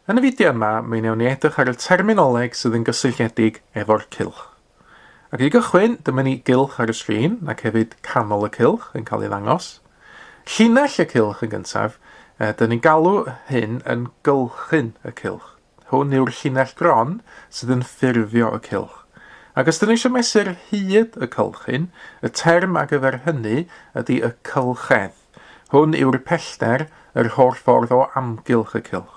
Yn y fideo yma, mi wnewn ni edrych ar y terminoleg sydd yn gysylltiedig efo'r cylch. Ac i gychwyn, dyma ni gylch ar y sgrin, ac hefyd canol y cylch yn cael ei ddangos. Llinell y cylch yn gyntaf, e, dyn ni'n galw hyn yn gylchyn y cylch. Hwn yw'r llinell gron sydd yn ffurfio y cylch. Ac os dyn ni eisiau mesur hyd y cylchyn, y term ar gyfer hynny ydy y cylchedd. Hwn yw'r pellter yr holl ffordd o amgylch y cylch.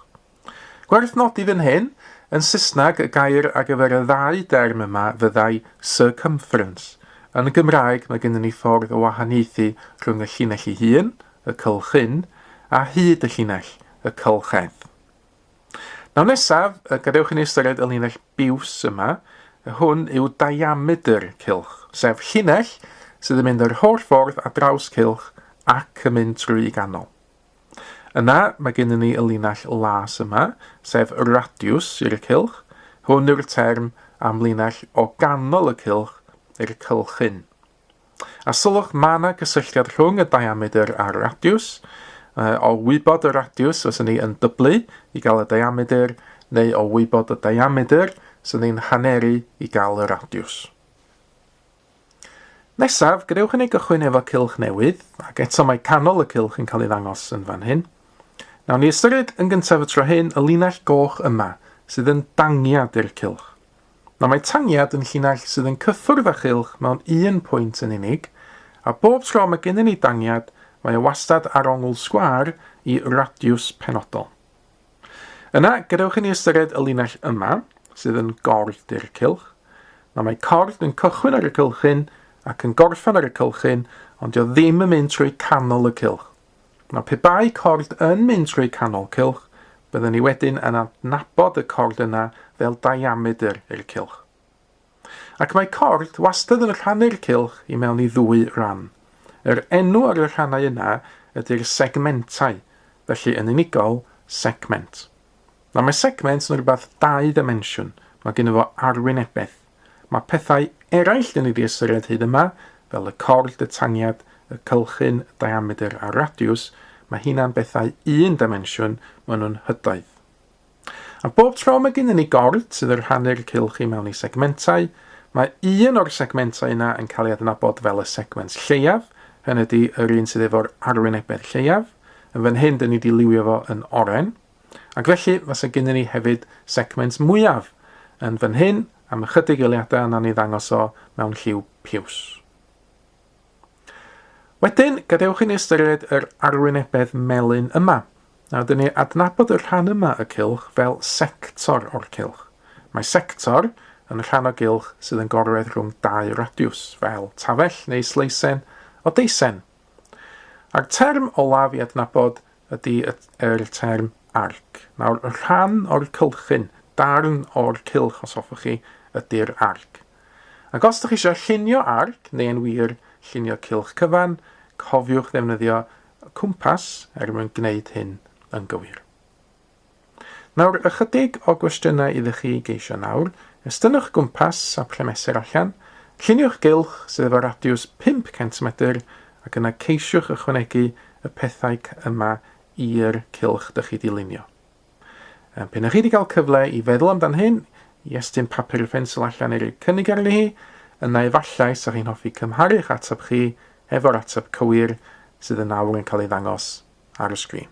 Gwerth nodi fan hyn, yn Saesneg y gair ar gyfer y ddau derm yma fyddai circumference. Yn y Gymraeg mae gennym ni ffordd o wahaniaethu rhwng y llinell ei hun, y cylch hyn, a hyd y llinell, y cylch edd. Nawr nesaf, gadewch i ni ystyried y linell biws yma. Hwn yw diamedr cilch, sef llinell sydd yn mynd yr holl ffordd a draws cilch ac yn mynd trwy i ganol. Yna, mae gennym ni y linell las yma, sef radiws i'r cilch. Hwn yw'r term am linell o ganol y cilch i'r cylchyn. A sylwch, mae yna gysylltiad rhwng y diamedr a'r radiws. O wybod y radiws, os ni yn dyblu i gael y diamedr, neu o wybod y diamedr, os ni'n haneru i gael y radiws. Nesaf, gadewch i ni gychwyn efo cylch newydd, ac eto mae canol y cylch yn cael ei ddangos yn fan hyn. Nawn ni ystyried yn gyntaf y tro hyn y linell goch yma, sydd yn dangiad i'r cylch. Na mae tangiad yn llinell sydd yn cyffwrdd â chylch mewn un pwynt yn unig, a bob tro mae gennym ni dangiad, mae o wastad ar ongl sgwâr i radiws penodol. Yna, gadewch i ni ystyried y linell yma, sydd yn gord i'r cylch. Na mae cord yn cychwyn ar y cylchyn ac yn gorffen ar y cylchyn, ond dio ddim yn mynd trwy canol y cylch. Nawr, pe bai cord yn mynd trwy canol cylch, byddwn ni wedyn yn adnabod y cord yna fel diamedr i'r cylch. Ac mae cord wastad yn rhannu'r cylch i mewn i ddwy ran. Yr enw ar y rhannau yna ydy'r segmentau, felly yn unigol, segment. Nawr, mae segment yn rhywbeth dau ddimensiwn, mae gen fo arwynebedd. Mae pethau eraill yn ei ystyried hyd yma, fel y cord, y tangiad, y cylchyn, y diamedr a'r radiws, mae hynna'n bethau un dimensiwn, maen nhw'n hydoedd. A bob tro mae gennym ni gord sydd yn rhannu'r cylch i mewn i segmentau, mae un o'r segmentau yna yn cael ei adnabod fel y segment lleiaf, hynny ydy yr un sydd efo'r arwynebedd lleiaf. Yn fan hyn, dyn ni wedi liwio fo yn oren. Ac felly, fase gynnon ni hefyd segment mwyaf yn fan hyn, am ychydig eiliadau nawn ni ddangos o mewn lliw piws. Wedyn, gadewch i ni ystyried yr arwynebedd melyn yma. Nawr, dyn ni adnabod y rhan yma y cylch fel sector o'r cylch. Mae sector yn y rhan o gylch sydd yn gorwedd rhwng dau radiws, fel tafell neu sleisen o deisen. A'r term olaf i adnabod ydy yr term arc. Nawr, y rhan o'r cylchyn, darn o'r cylch os hoffwch chi, ydy'r arc. Ac os ydych chi eisiau llunio arc, neu yn wir, llunio cylch cyfan, cofiwch ddefnyddio cwmpas er mwyn gwneud hyn yn gywir. Nawr, ychydig o gwestiynau iddo chi geisio nawr. Estynnwch gwmpas a phle mesur allan. Lluniwch gylch sydd efo radiws 500 medr ac yna ceisiwch ychwanegu y pethau yma i'r cylch dych chi 'di lunio. Pe na chi 'di cael cyfle i feddwl amdan hyn, i estyn papur y ffensl allan i roi cynnig arni hi, yna efallai sa chi'n hoffi cymharu'ch ateb chi efo'r ateb cywir sydd yn awr yn cael ei ddangos ar y sgrin.